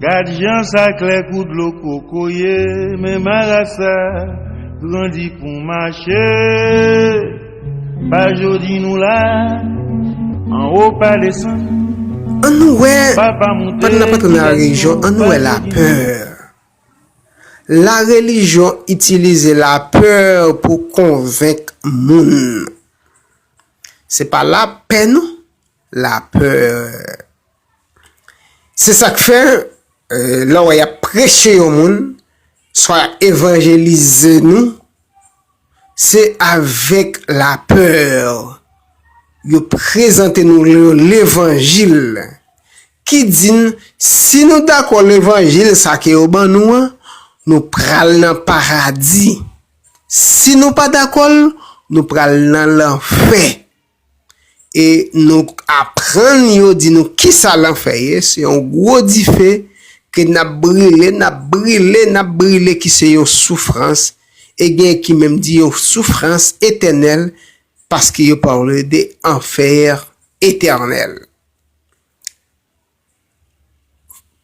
Gad jan sa klè kou dlo kokoye men marasa grandi pou mache pa jodi nou la an wo pa desann An nou wè, papa moute pandan n ap antre nan la relijyon, an nou wè lapè. La relijyon itilize lapè pou konvenk moun. Se pa lapè non, lapè. Se sa k fè, lè w wè y ap preche yon moun, swa y ap evanjelize nou, se avèk lapè yo prezante nou levanjil ki di n si nou dakò levanjil sa ke yo ban nou an, nou pral nan paradi, si nou pa dakò l, nou pral nan lanfè. e nou aprann yo di nou kisa lanfè ye, se yon gwo dife ke nap brile, nap brile, nap brile ki se yon soufrans e gen ki menm di yon soufrans etènèl paske yo pale de enfer etènèl.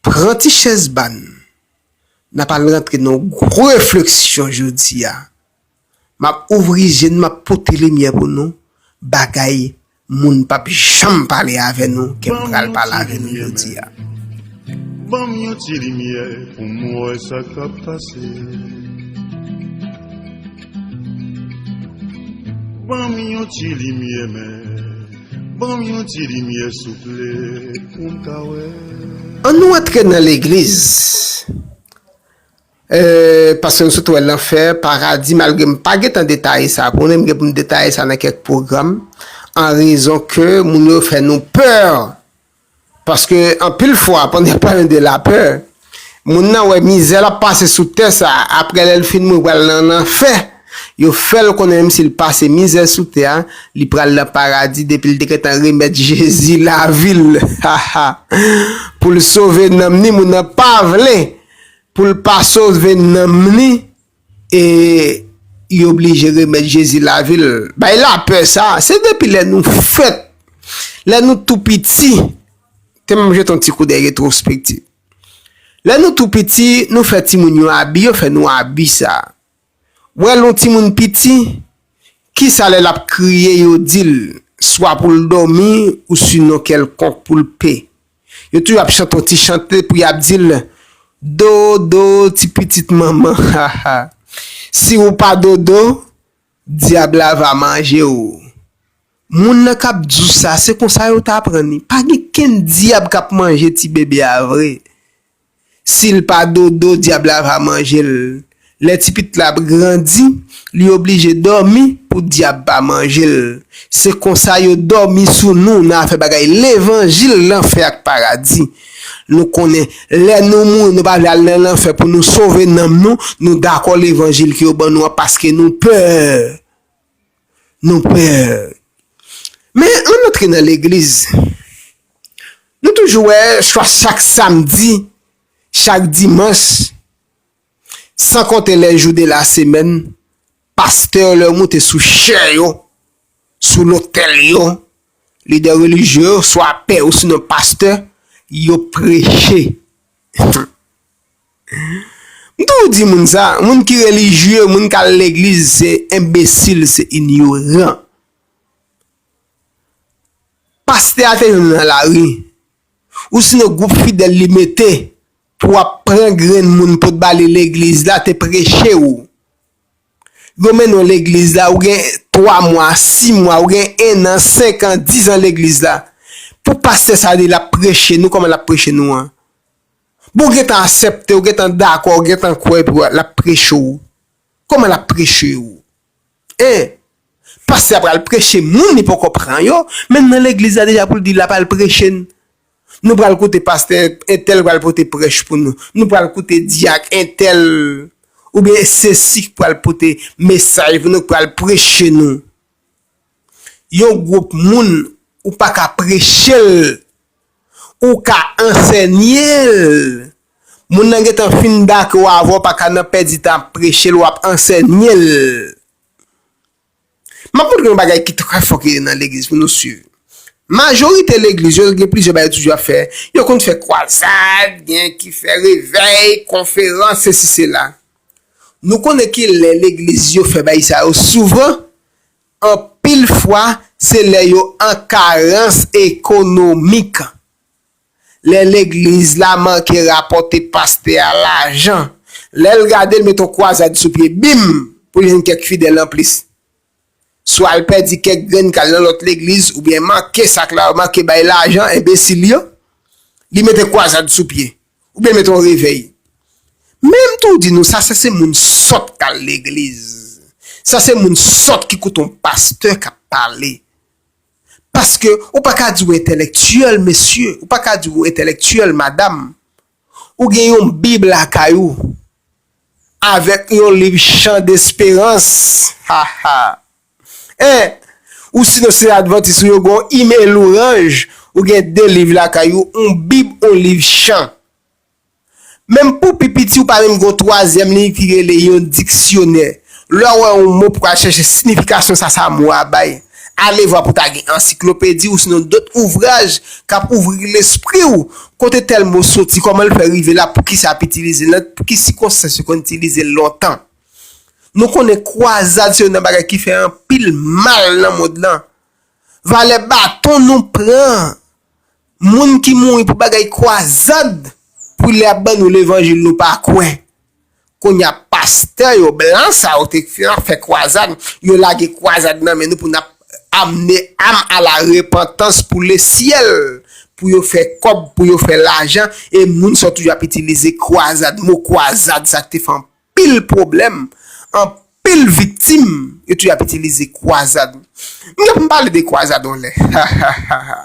Pran ti chèz ba n, nap al rantre nan yon gwo refleksyon jodi a Map ouvri je n map pote limyè pou nou bagay moun pap janm pale avè nou ke m pral pale avè nou jodi a. Banm yon ti limyè pou m wè sa kap pase. Banm yon ti limyè men banm yon ti limyè souple pou m ka wè. An nou antre nan legliz. Paske m sot wè lanfè, paradi, malgre m pa gentan detaye sa pou nou, m gen pou m detaye sa nan kèk pwogram, an rezon ke moun yo fè nou pè, paske anpil fwa pandan y ap pale de lapè, moun nan wè mizè l ap pase sou tè sa a, aprè lè l fin mouri pral nan lanfè, yo fè l konnen menm si l pase mizè sou tè a, li pral nan paradi depi l te gentan remèt Jezi lavi l, ha ha, pou l sove nanm ni, moun nan pa vle. Poul pa sove nanm li e li oblije remèt Jezi lavil. Bay lapè sa, se depi lè nou fèt, lè nou tou piti, te m jete yon ti koudèy retrospektiv. Lè nou tou piti, nou fè timoun yo abi, yo fè nou abi sa. Wè lon timoun piti, kisa lè lap kriye yo dil swa poul dòmi ou sinon kèlkonk poul pe. Yo toujou ap chante yon ti chante pou yap dil dodo ti pitit manman haha si ou pa dodo dyab la va manje ou. Moun nan kap diw sa se konsa yo t aprann li pa gen kenn dyab kap manje ti bebe a vre. Sil pa dodo dyab la va manjel. Lè ti pitit la ap grandi li oblije dòmi pou dyab pa manjel. Se konsa yo dòmi sou nou nan afè bagay levanjil lanfè ak paradi. Nou konnen lè nou mouri nou pa vle al nan lanfè pou nou sove nanm nou, nou dakò levanjil ke yo ban nou an paske nou pè. Nou pè. Men an antre nan legliz. Nou toujou wè swa chak samdi, chak dimanch, san konte lè jou de la semèn, pastè yo lè yo moute sou chè yo, sou lotèl yo, lidè relijye yo, swa pè osinon pastè, yo preche. M toujou di moun sa, moun ki relijye, moun kal legliz se enbesil, se inyoran. Pastè a te jwenn nan lari, ou sinon gwoup fidèl li mete pou ap pran grenn moun pot ba li legliz la te preche ou. Yo mennen w legliz la, ou gen 3 mwa, 6 mwa, ou gen 1 an, 5 an, 10 an legliz la. Pou pastè sa di lap preche nou, kòman lap preche nou an? Bon ou gentan asèpte ou gentan dakò ou gentan kwè epi lap preche w kòman lap preche w hein pastè a pral preche moun li poko pran yo menm nan legliz la deja pou l di lap al preche n nou pral koute pastè entèl pral pote prèch pou nou nou pral koute dyak entèl oubyen sesi k pral pote mesaj pou nou k pral preche nou. Yon gwoup moun ou pa ka preche l, ou ka ansènye l. Moun nan gentan fin dake w avè w pa ka nan pèdi tan ap preche l, w ap ansènye l. M ap montre yon bagay ki trè fò ki gen nan legliz pou nou swiv. Majorite legliz yo gen plizyè bagay yo toujou ap fè. Yo konn fè kwazad, gen ki fè revèy, konferans, sesi sela. Nou konnen ki lè legliz yo fè bagay sa yo souvan? Anpil fwa, se lè yo an karans ekonomik. Lè legliz la manke rapòte pastè a lajan. Lè l gade l met on kwazad sou pye, bim! pou l jwenn kèk fidèl anplis. Swa l pèdi kèk grenn k al nan lòt legliz oubyen manke sak la yo manke bay lajan enbesil yo. Li mete kwazad sou pye. Ou byen mete yon revey. Men m tou di nou sa sa se moun sòt k al legliz. Sa se moun sòt ki koute yon pastè k ap pale. Paske ou pa ka di w entèlèktyèl mesye, ou pa ka di w entèlèktyèl madam. Ou gen yon bib lakay ou avèk yon liv chan desperans. Ha ha. Eh ou si nou se advantis ou yo gon email louranj ou gen 2 liv lakay ou on bib on liv chan menm pou pi piti ou pa menm gon twazyèm liv ki rele yon diksyonè lè wè on mo pou al chèche sinifikasyon sa sa mo a bay alevwa pou ta gen ansiklopedi ou sinon dot ouvraj kap ouvri lespri ou kote tèl mo soti kòman l fè rive la poukisa ap itilize l nan ki sikonstans yo konn itilize l lontan. Nou konnen kwazad se youn nan bagay ki fè anpil mal nan mond lan. Valè baton nou pran moun ki mouri pou bagay kwazad pou lè yap ban nou levanjil nou pa kwè. Kounya pastè yo blan sa yo te fè ap fè kwazad, yo lage kwazad nan men nou pou nap amne am a la repantans pou le syèl, pou yo fè kòb, pou yo fè lajan e moun sa yo toujou ap itilize kwazad, mo kwazad sa ki te fè anpil. anpil pwoblèm, anpil viktim, yo toujou ap itilize kwazad. M gen pou m pale de kwazad yon lè. Ha ha ha ha!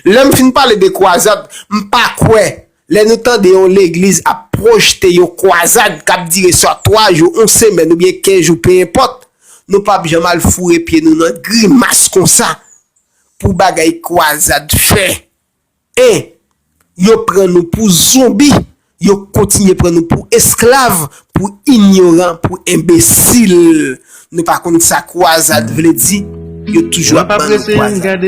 Lè m fin pale de kwazad, m pa kwè, lè nou tande yon legliz ap pwojte yon kwazad k ap dire swa 3 jou, yon semèn oubyen 15 jou peyempòt, nou pa p janm al foure pye nou nan grimas konsa pou bagay kwazad fè 1. Yo pran nou pou zonbi, yo kontinye pran nou pou esklav, pou inyoran, pou enbesil. Nou pa konn sa kwazad vle di, yo toujou ap ban nou kwazad.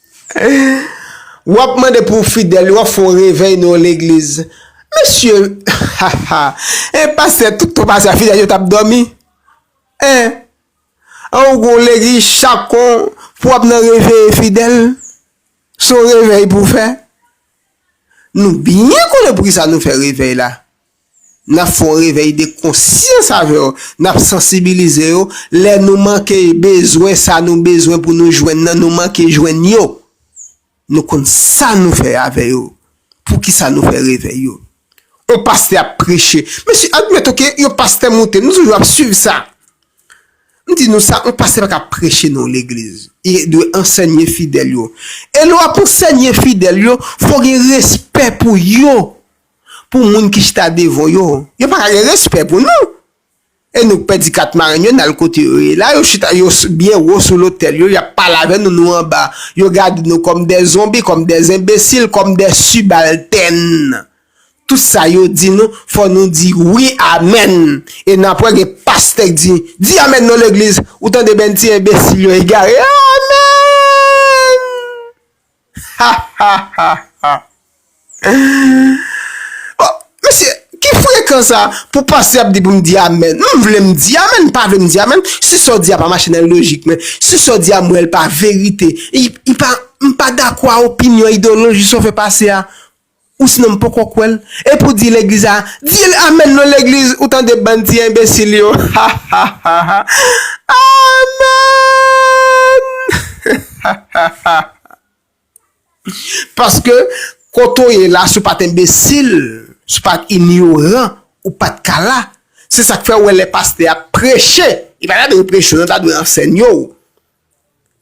Wap mande pou fidèl yo wap fè yon revèy nan yon legliz mesye haha en pastè tout tan pase a fidèl yo tap dòmi en an ou gon legliz chak kon pou wap nan reveye fidèl son revèy pou fè nou byen konnen poukisa nou fè revèy la. N ap fè yon revèy de konsyans avè yo, n ap sansibilize yo, lè nou manke bezwen sa nou bezwen pou nou jwenn nan, nou manke jwenn yo, nou konn sa nou fè avè yo, pou ki sa nou fè revèy yo. Yon pastè ap preche, mesye admèt ok, yon pastè moute, nou toujou ap swiv sa, m di nou sa, yon pastè pa ka preche nan yon legliz, li dwe ansènye fidèl yo, e lè w ap ansènye fidèl yo, fò w gen respè pou yo, Pou moun ki chita devan w yo, yo pa ka gen respè pou nou. E nou k pèdi kat marenn yo n al kote yo ye la, yo chita yo byen wo sou lotèl yo, y ap pale avè nou, nou anba. Yo gade nou kòm de zonbi, kòm de zenbesil, kòm de sibaltèn. Tout sa yo di nou, fò nou di wi amèn. E nan apre gen pastè k di, di amèn non legliz, ou tande bèn ti enbesil yo egare a! Amèn! Bon mesye ki frekan sa pou pastè ap di pou m di amen m vle m di amen m pa vle m di amen si sa w di a pa mache nan lojik mwen si sa w di a m wè l pa verite m pa dakò a opinyon ideyoloji sa w fè pase a Ou sinon m poko kwè l. Epi w di legliz a, di l amen non legliz ou tande bann ti enbesil yo hahahahahaamenn paske kote w ye la si w pat enbesil si w pat inyoran ou pat ka la se sak fè w wè lè pastè ap preche li pa ta dwe preche w ta dwe ansenye w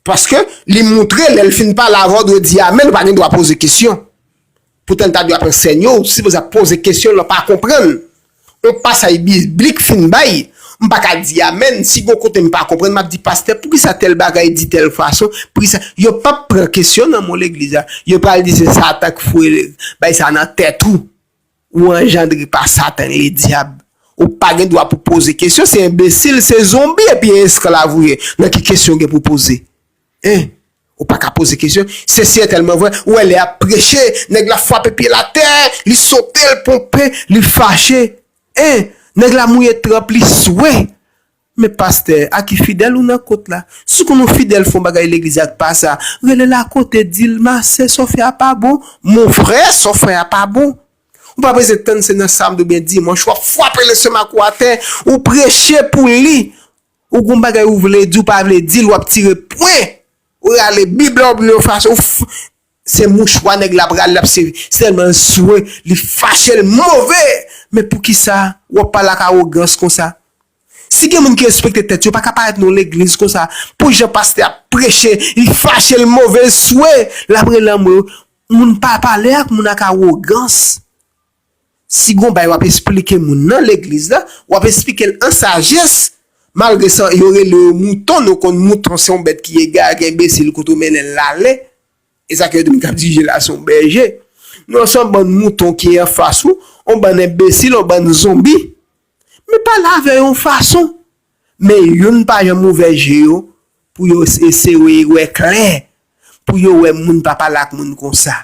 Paske, li moutre lè l fin pale avan w dwe di amèn, ou pa gen dwa poze kesyon. Poutan li ta dwe ap ansègne w, ou sipoze ap poze kesyon lè w pa konprann. Yon pasaj biblik fin bay, m pa ka di amèn, si gon kote m pa konprann, m ap di pastè poukisa tèl bagay di tèl fason, poukisa, yo p ap pran kesyon nan moun legliz la, yo pral di se satan k foure bagay sa nan tèt ou. Ou anjandre pa satan le dyab. Ou pa gen dwa pou poze kesyon, se enbesil, se zonbi epi e esklav ou ye. Nan ki kesyon ou gen pou poze? Hein? Ou pa ka poze kesyon? Se sètèlman vre, ou wè lè yap preche, nèg la fwape pye l atè, li sote, l ponpe, li fache. Hein? Nèg la mouye tranp li swe. Men pastè a ki fidèl ou nan kot la. Siw konn ou fidèl fon bagay legliz ak pa sa, relel a kote dil ma sè sa w fè a pa bon, mon frè sa w fè a pa bon. Ou pa bezwen tann se nan samdi oubyen dimanch wap fwape lestomak ou atè, ou preche pou li, ou gon bagay ou vle di ou pa vle dil wap tire pwen, ou rale bib la oubyen ou fache ou Se mouchwa nèg la pral lap se sèlman l swe li fache l move men poukisa wap pale ak awogans konsa si gen moun ki respekte tèt yo paka parèt nan legliz konsa pou jan pastè ap preche li fache l move l swe lap rele anmwe moun pa pale ak moun ak awogans. Si gon bay wap esplike moun nan legliz la, wap esplikel an sajès, malgre sa yo rele yo mouton nou konn mouton se yon bèt ki egare ki enbesil kote ou mennenl lale, esa ke yo di moun kap dirije la se yon bèje, nou an se yon bann mouton ki anfas ou, yon bann enbesil, yon bann zonbi, men pale avè yo yon fason, men youn pa janm ouvè je yo pou yo eseye wè klè, pou yo wè moun pa pale ak moun konsa.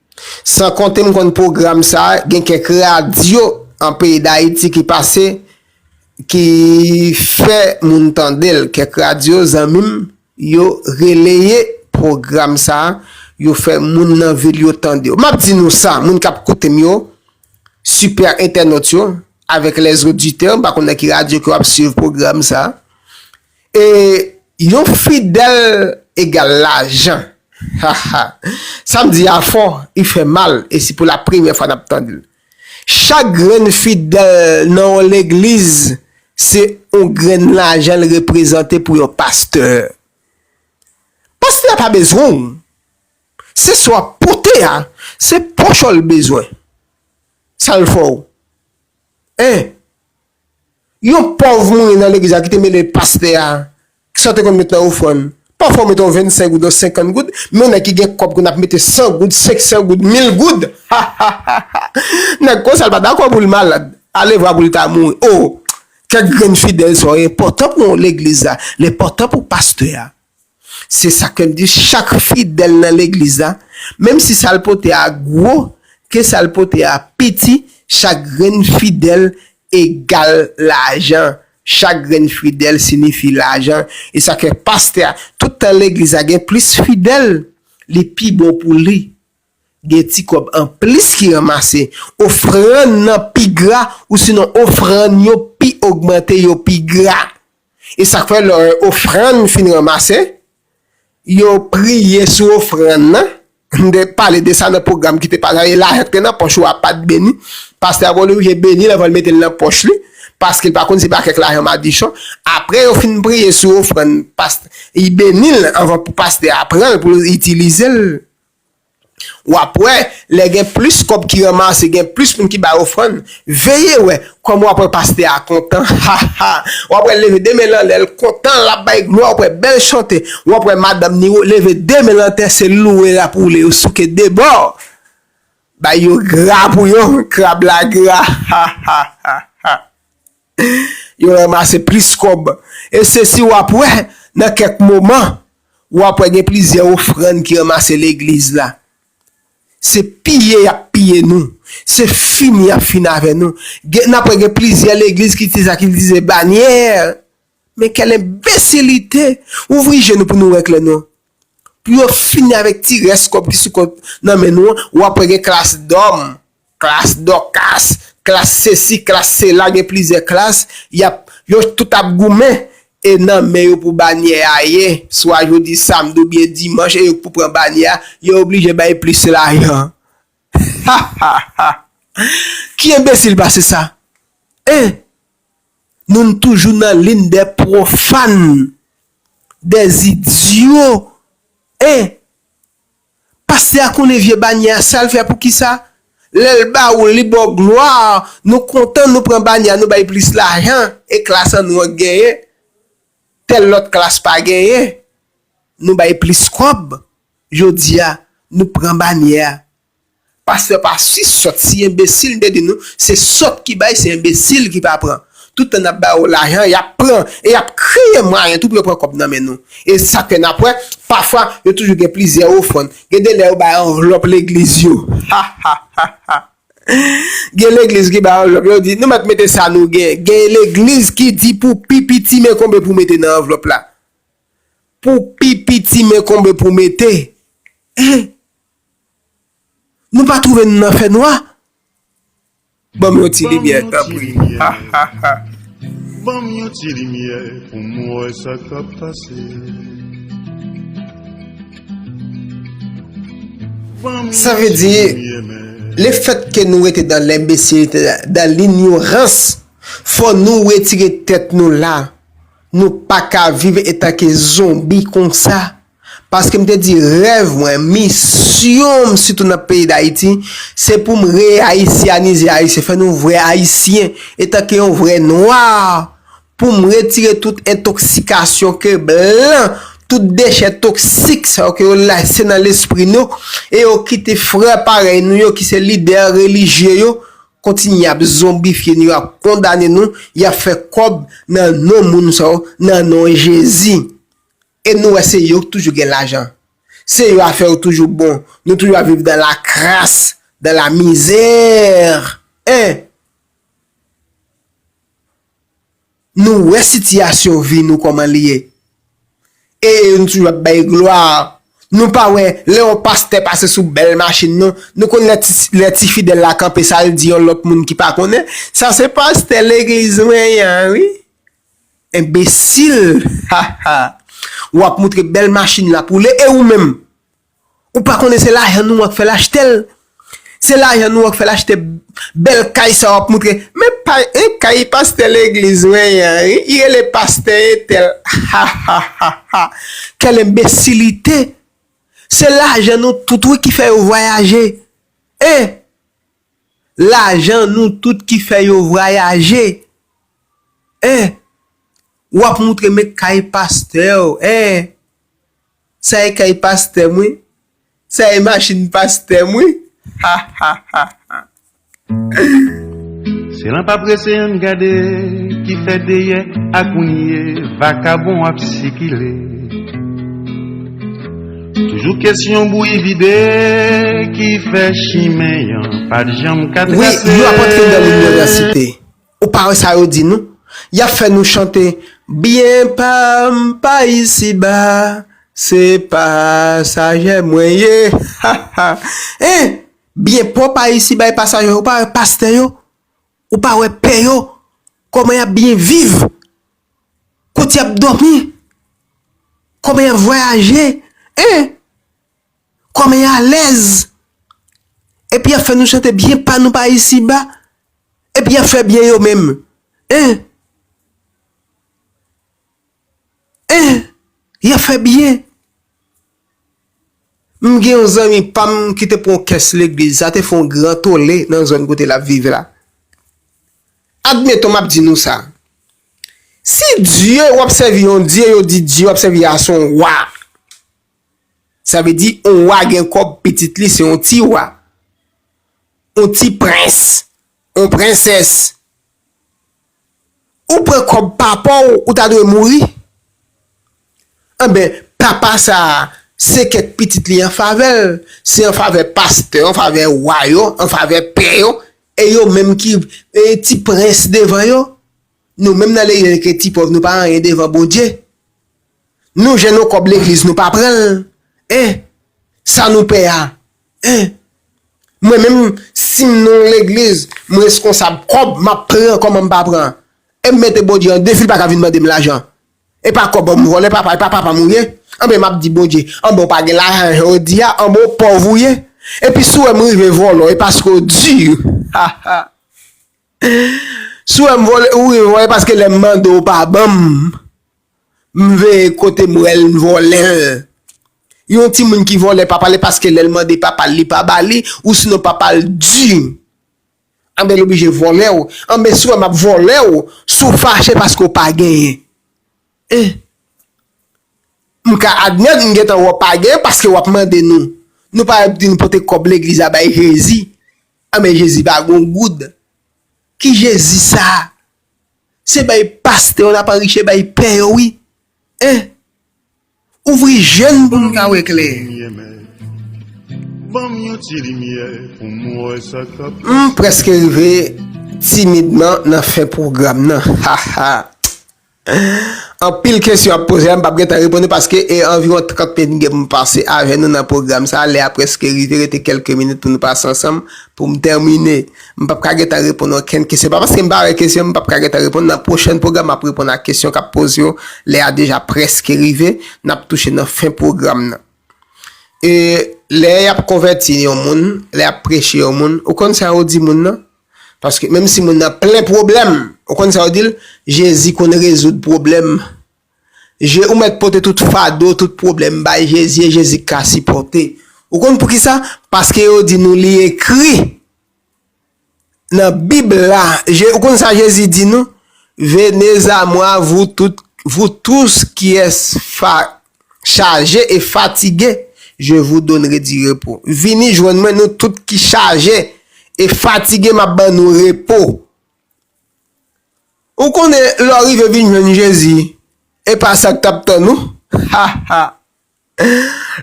San konte m konn pwogram sa a, gen kèk radyo an peyi Dayiti ki pase, ki fè moun tande l. Kèk radyo zanmi m yo releye pwogram sa a, yo fè moun nan vil yo tande yo. M ap di nou sa, moun k ap koute m yo, sipè entènot yo, avèk lèzoditè, m pa konn nan ki radyo ke w ap suiv pwogram sa a, E yon fidèl egal lajan haha sam di a fò u fè mal e si pou la premyè fwa nap tand l chak grenn fidèl nan yon legliz se yon grenn lajan l reprezante pou yon pastè pastè a pa bezwen w se sa wap pote a se poch w l bezwen sal fè w hein. Yon pòv moune nan legliz la ki te mele pastè a, ki sa w te konn met nan ofrann? Pafwa w mete yon vennsenk goud, yon senkant goud, men yon nèg ki gen kòb konn ap mete san goud, senksan goud, mil goud! Ha! ha! ha! ha! Nèg konsa l pa dakò pou l malad, alevwa pou l ta mouri. O! Kèk grenn fidèl sa w enpòtan pou legliz la, l enpòtan pou pastè a. Se sa ke m di chak fidèl nan legliz la, menm si sa l pote a gwo, ke sa l pote a piti, chak grenn fidèl egal lajan. Chak grenn fidèl sinifi lajan. E sa ke pastè a, tout tan legliz la gen plis fidèl, li pi bon pou li gen ti kòb an plis ki ranmase. Ofrann nan pi gra, ou sinon ofrann yo pi ogmante, yo pi gra. E sa k fè lè ofrann fin ranmase, yo priye sou ofrann nan. M te pale de sa nan pwogram ki te pase la. E lajan ki te nan pòch ou a pa t beni. Pastè a gon oblije beni l anvan l mete l nan pòch li, paske l pa konn si se pa kèk lajan madichon. Apre yo fin priye sou ofrann, pastè, li beni l anvan pou pastè a pran l pou l itilize l. Wap wè lè gen plis kòb ki ranmase gen plis moun ki bay ofrann veye wè kòman wap wè pastè a kontan haha wap wèl leve 2 menl anlè l kontan lap bay glwa wap wè bèl chante wap wè madanm ni leve 2 menl antè se louwe lap woule yo souke 2 bò bay yo gra pou yo krab la gra hahahaha. Yo ranmase plis kòb. E se si w ap wè, nan kèk moman, w ap wè gen plizyè ofrann ki ranmase legliz la. Se piye y ap piye nou. Se fini y ap fini avè nou. Gen, n ap wè gen plizyè legliz ki itilize sa, ki itilize banyè. Men kèl enbesilite! Ouvri je nou pou nou wè klè non. Pou yo fini avèk ti rès kòb ki sou kont nan men nou an, w'ap wè gen klas dòm, klas dòkas, klas sesi, klas sela, gen plizyè klas, y'ap, yo tout ap goumen, e nan men yo pou banyè a ye, swa jodi samdi ou byen dimanch e yo k pou pran banyè a, yo oblije bay plis lajan. Ha! ha! ha! Ki enbesil pase sa? Hein! Moun toujou nan lin dè pwofàn, dè zidyo, en! Pastè a konnen vye banyè a sal fè pou kisa? Lèl ba ou li baw glwa, nou kontan nou pran banyè a nou bay plis lajan e klas an nou an k genyen, tèl lòt klas pa genyen, nou bay plis kòb, jodia nou pran banyè a Pastè pa si sòt si enbesil m te di nou se sòt ki bay se enbesil ki pa pran tout tan nap bayo lajan yap pran e yap kreye mwayen tou pou yo pran kòb nan men nou e sak fè nap wè pafwa yo toujou gen plizyè ofrann gen de lè yo bay anvlòp legliz yo hahahahha gen legliz ki bay anvlòp yo di nou mèt mete sa nou gen gen legliz ki di pou pi piti men konbe pou mete nan anvlòp la pou pi piti men konbe pou mete eh. Nou pa twouve nou nan fè nwa? Ban m yon ti limyè tanpri ha ha ha. Ban m yon ti limyè pou m wè sa k ap pase. Sa vle di, le fèt ke nou rete dan lenbesilite, dan linyorans, fò nou retire tèt nou la. Nou pa ka viv etanke zonbi konsa. Paske m te di rèv mwen, misyon m sitou nan peyi Dayiti, se pou m reayisyanize Ayisyen, fè nou vrè Ayisyen, etanke yon vrè nwa, pou m retire tout entoksikasyon ke blan, tout dechè toksik sa yo ke yo lese nan lespri nou, e yo kite frè parèy nou yo ki se lidè relijye yo, kontinye ap zonbifye nou, yo ap kondane nou, y ap fè kòb nan non moun sa yo, nan non Jezi. E nou wè se yo ki toujou gen lajan. Se yo afè yo toujou bon. Nou toujou ap viv dans la crasse, dans la misère. Hein! Nou wè sitiyasyon vi nou kòman li ye. E nou toujou ap bay glwa. Nou pa wè lè yon pastè pase sou bèl machin nou, nou konn lè ti fidèl la kanpe sa l di yon lòt moun ki pa konnen, sa se pastè legliz mwen an wi. Enbesil haha wap moutre bèl machin lap woule e ou menm ou pa konnen se lajan nou an k fèl achtel se lajan nou an k fèl achte bèl kay sa wap moutre men kay pastè legliz mwen yan li rele pastè etèl hahahaha kèl enbesilite se lajan nou tout wi ki fè yo vwayaje e Lajan nou tout ki fè yo vrayaje eh Wap moutre me kay pastèw eh Sa e kay pastèm wi Sa e machin pastèm wi Ha ha ha ha Ehh. Se lan pa prese ann gade ki fè deyè a kounye vakabon ap sikile. Toujou kesyon bouyi vide ki fè chimen yan pat janm ka trase. Wi, yo ap antre nan liniòvèsite. Ou pa wè sa yo di nou? Y ap fè nou chante Byen pa m pa isiba, se pasajè mwen ye, ha ha. E, byen pa w pa isiba e pasajè, ou pa wè pastè yo, ou pa wè pè yo, kòman y ap byen viv? Kot yap domi? Koman yap vwayaje? Hein? Koman y alèz? Epi yap fè nou chante byen pa nou pa isi ba? Epi yap fè byen yo menm? Hein? Hein? Yap fè byen? M gen yon zanmi pa m ki te pran kès legliz, sa te fè yon gran tole nan zòn kote l ap viv la. Admeton m ap di nou sa, si dye w ap sèvi yon dye, yo di dye w ap sèvi a se yon wa, sa vle di yon wa gen kòb pitit li se yon ti wa, yon ti prens, yon prensès. Ou pran kòb papaw ou ta dwe mouri anben papa sa se kèk pitit li an favèl se an favè pastè an favè wa yo an favè pè yo e yo menm ki ti prens devan yo nou menm nan lejè ke ti pòv nou pa anyen devan Bondye Nou jèn yon kòb legliz nou pa pran l en sa nou pè a en mwen menm sim nan yon legliz m reskonsab kòb map pran kòman m pa pran em mete Bondye an defi l paka vin mandem lajan epa kòb an m vòlè papa epa papam ou ye anben map di Bondye anben ou pa gen lajan jan ou di a anben ou pòv ou ye epi si w wèm rive vòlò e paske ou dur haha si w wèm vòlè ou rive vòlò e paske lèm mande ou pa banm. Mnmve kotem wèl nvolèl. Yon timoun ki vòlè papa li paske lèl mande papal li pa bali ou sinon papal di anben li oblije vòlèw anben si ou wè map vòlèw si ou fache paske ou pa genyen eh mka admèt m gentan wè ou pa genyen paske wap mande nou nou pa wèp di nou pote kòb legliz la bay jezi anben jezi pa gon goud ki jezi sa. Se bay pastè yo nap anriche bay pè yo wi en ouvri je n pou n ka wè klè. M preske rive timidman nan fen pwogram nan hahahaa anpil kesyon ap poze a m pap gentan reponn yo paske e anviwon 30 minit m gen pou m pase avè nou nan pwogram sa lè a preske rive rete kelke minit pou nou pase ansanm pou m tèmine M pap ka gentan reponn okenn kesyon. Pa paske m pa wè kesyon, m pap ka gentan reponn. Nan pwochèn pwogram, m ap reponn ak kesyon k ap poze yo. Lè a deja prèske rive. N ap touche nan fen pwogram nan. E, lè y ap konvèti yon moun, lè y ap preche yon moun, ou konn sa yo di moun nan? Paske, menm si moun nan plen pwoblèm, ou konn sa yo di l? Jezi konn rezoud pwoblèm. Je ou mèt pote tout fado, tout pwoblèm bay Jezi e Jezi k ka sipòte. Ou konn poukisa? Paske yo di nou li ekri nan bib la. Je ou konn sa Jezi di nou? Venez a moi vous tout vous tous qui es fa chaje e fatige je vous donnere du repos. Vini jwenn mwen nou tout ki chaje e fatige m ap ban nou repo. Ou konnen lè w rive vin jwenn Jezi, e pa sa k t ap tann ou. Ha! ha!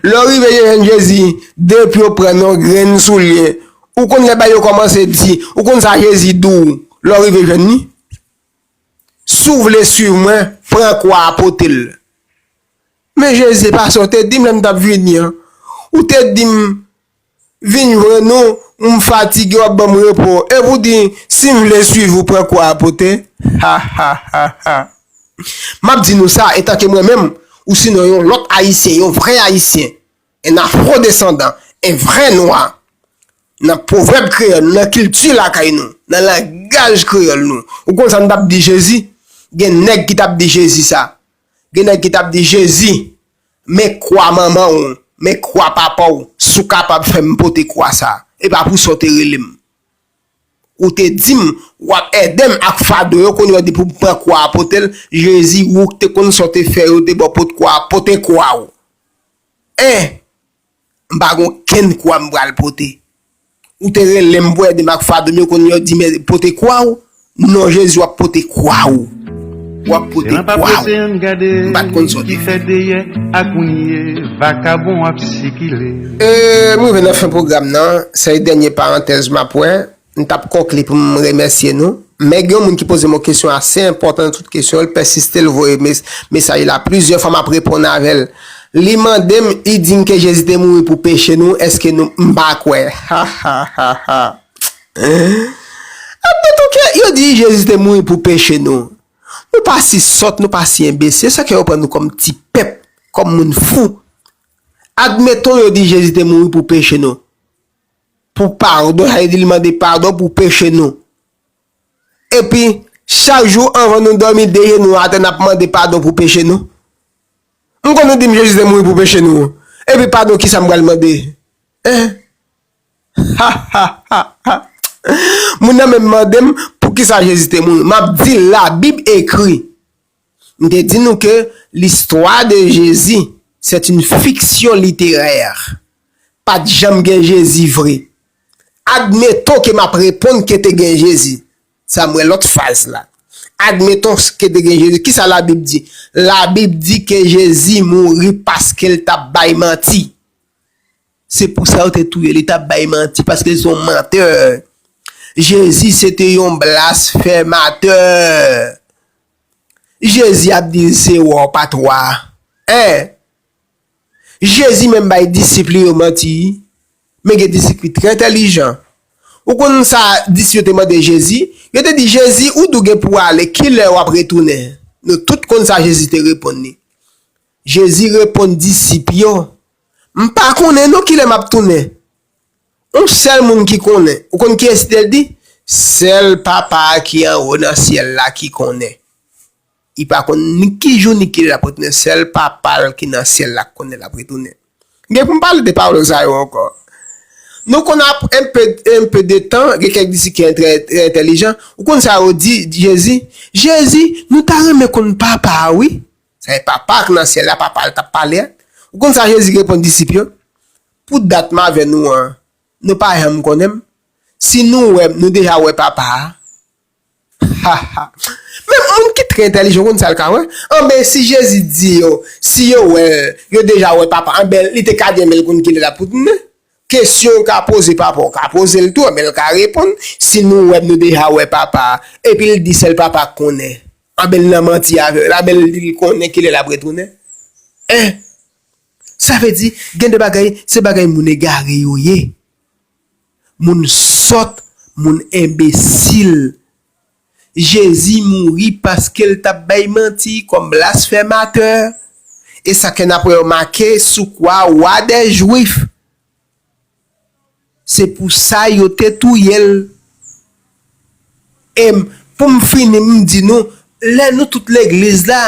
Lè w rive jwenn Jezi, depi w pran yon grenn soulye, ou konn lè bagay yo kòmanse di, ou konn sa Jezi di w lè w rive jwenn li? Si w vle suiv mwen, pran kwa a pote l. Men Jezi, e pa sa w te di m lè m t ap vini an? Ou te di m. Vin vre nou m fatigue wap banm repo e pou di sim vle swiv ou pran kwa a pote hahahaha map di nou sa etanke mwen menm ou sinon yon lot ayisyen yon vrè ayisyen en afro desandan en vrè nwa nan pwovèb kreyòl nou nan kilti lakay nou nan langaj kreyòl nou ou konn sa nou tap di jezi gen nèg ki tap di jezi sa gen nèg ki tap di jezi Men kwa manman w, men kwa papa w, si w kapab fè m pote kwa sa a, e pa pou sa w te rele m. Ou te di m, w ap ède m ak fado yo, kounye a depi w pran kwa a pote l, Jezi, ou k te konn sa w te fè yo te ba w pot kwa a, pote kwa w. 1. M pa gen okenn kwa m pral pote. Ou te rele m pou ede m ak fado m yo kounye a ou di m pote kwa ou? Non Jezi w ap pote kwa ou. W ap pote kwa ou. M pa t konn sa w te fè. M rive nan fen pwogram nan. Sèl dènye parantèz m ap wè. M tap konkli pou m remèsye nou, men gen yon moun ki poze m yon kesyon ase enpòtan nan tout kesyon, l pèsiste l voye mesaj la plizyè fwa map reponn avè l, li mande m u di m ke Jezi te mouri pou peche nou eske nou m pa kwè hahahaa ap met ok yo di Jezi te mouri pou peche nou nou pa si sòt nou pa si enbesil sa ke yo pran nou kòm ti pèp kòm moun fou admeton yo di Jezi te mouri pou peche nou. pou padon, sa vle di li mande padon pou peche nou. Epi, chak jou anvan nou dòmi de jenou atè n ap mande padon pou peche nou. M konn nou di m Jezi te mouri pou peche nou, epi padon kisa m pral mande? Hein? Ha ha ha ha! Moun nan menm mande m poukisa Jezi te mouri, m ap di l Labib ekri. M te di nou ke L'histoire de Jésus, c'est une fiction littéraire. Pa t janm gen Jezi vre. Admettons ke m ap reponn ke te gen Jezi. Sa m wè lòt faz la. Admettons ke te gen Jezi. Kisa Labib di? Labib di ke Jezi mouri paske l t ap bay manti. Se pou sa yo te touye li tap bay manti paske li se yon mantè Jezi se te yon blasfèmatè Jezi ap di l se wa w pa t wa hein Jezi menm bay disip li yo manti men gen disip ki trè entèlijan ou konn sa disip yo te mande Jezi yo te di Jezi ou di w gen pou w ale kilè wap retounen nou tout konn sa Jezi te reponn li. Jezi reponn disip yo, M pa konnen non ki lè m ap tounen. On sèl moun ki konnen. Ou konn kiyès li? L di, Sèl Papa a ki anwo nan syèl la ki konnen. Li pa konn ni ki jou ni ki lè l ap retounen. Sèl Papa l ki nan syèl la konnen lè l ap retounen. M gen pou m pale de pawòl sa yo ankò. Nou konn apre enpe, enpe de tan, gen kèk disip ki trè, trè entèlijan. Ou konn sa yo di Jezi? Jezi, nou ta renmen konn Papa a wi. Sa e Papa a ki nan syèl la, Papa a l t ap pale a. Ou konn sa Jezi reponn disip yo? Pou dat m avè nou an, nou pa janm konnen m? Si nou wè m, nou deja wè Papa a. Ha, ha! Menm moun ki trè entèlijan konn sa l ka wè. Anben, si Jezi di yo si yo wè l, yo deja wè Papa a, anben li te ka di anben l konn ki lè l ap tounen. Kesyon ou ka poze papa ou ka poze l tou men l ka reponn si nou wè nou deja wè papa a epi l di sèl papa k konnen anben l nan manti avè w la men l di l konnen kilè lap retounen en sa vle di gen de bagay se bagay moun egare yo ye moun sòt moun enbesil. Jezi mouri paske l t ap bay manti kòm blasfèmatè, e sa kè n ap remake sou kwa Wa dè Jwif. Se pou sa yo te touye l. E, pou m fini, m di nou, lè nou tout legliz la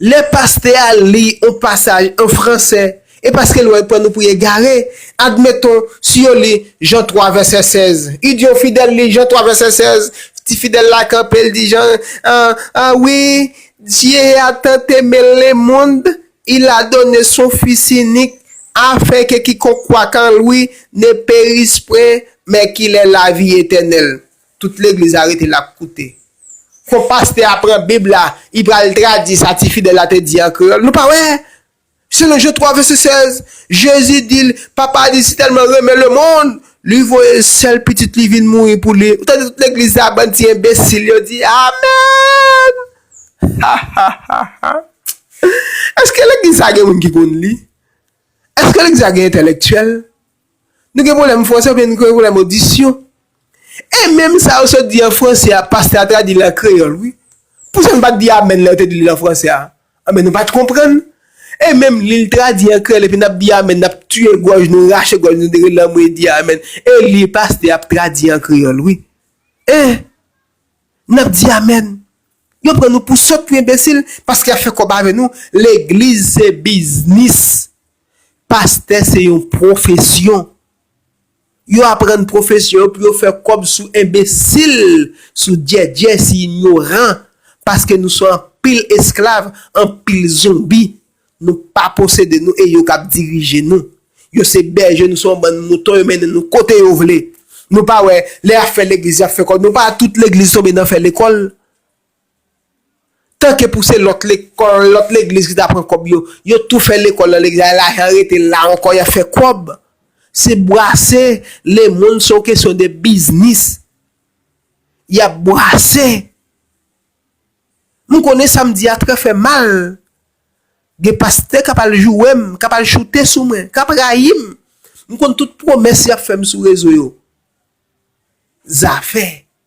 Lè pastè a li yon pasaj an franse, e paske l wè l pran nou pou egare, admeton, si yo li Jan 3 vèsè 16, li di yon fidèl li Jan 3 vèsè 16, ti fidèl la kanpe l di Jan, an, an wi, Dye a tant eme le mond, il a done son Fis inik, afen ke kikonk kwak an lwi ne peris pwen, men ki lè lavi etènèl. Tout legliz la rete lap koute. Fo paste a pran bib la i pral tradi sa ti fidel la te di an kreyol nou pa wè selon Jean 3 vese 16 jezi dil papa a di si telman renmen le mond li voye sel pitit li vin mouri pou li ou tande tout legliz la bann ti enbesil yo di amen hahahahha eske legliz sa gen moun ki konn li eske legliz sa gen entelektyel Nou gen pwoblèm fransè oubyen nou gen pwoblèm odisyon? E menm sa yo sot di an fransè a pastè a tradi l an kreyòl wi. Pou sa nou pa t di amèn lè yo te di l an fransè a? Anben nou pa t konprann. E menm li l tradi an kreyòl epi n ap di amèn n ap tiye gòj nou rache gòj nou dere lanmwe di amèn e li pastè ap tradi an kreyòl wi. E n ap di amèn. Yo pran nou pou sòt pou enbesil paske y ap fè kòb avè nou legliz se biznis. Pastè se yon pwofesyon. Yo aprann pwofesyon yo pou yo fè kòb sou enbesil, sou djèdjè, sou inyoran, paske nou se anpil esklav, anpil zonbi. Nou pa posede nou e yo k ap dirije nou. Yo se bèje, nou se yon bann mouton, yo mennen nou kote yo vle. Nou pa wè, lè y ap fè legliz, y ap fè kòb, nou pa wè tout legliz tonbe nan fè lekòl? Tanke pou se lòt lekòl, lòt legliz ki ta pran kòb yo, yo tou fè lekòl nan legliz la e lajan an rete la ankò y ap fè kòb. Se bwase lemonn se yon kesyon de biznis y ap bwase. M konnen sa m di a trè fè mal, gen pastè k ap al joure m, k ap al choute sou mwen, k ap rayi m. M konn tout pwomès y ap fè m sou rezo yo. Zafè.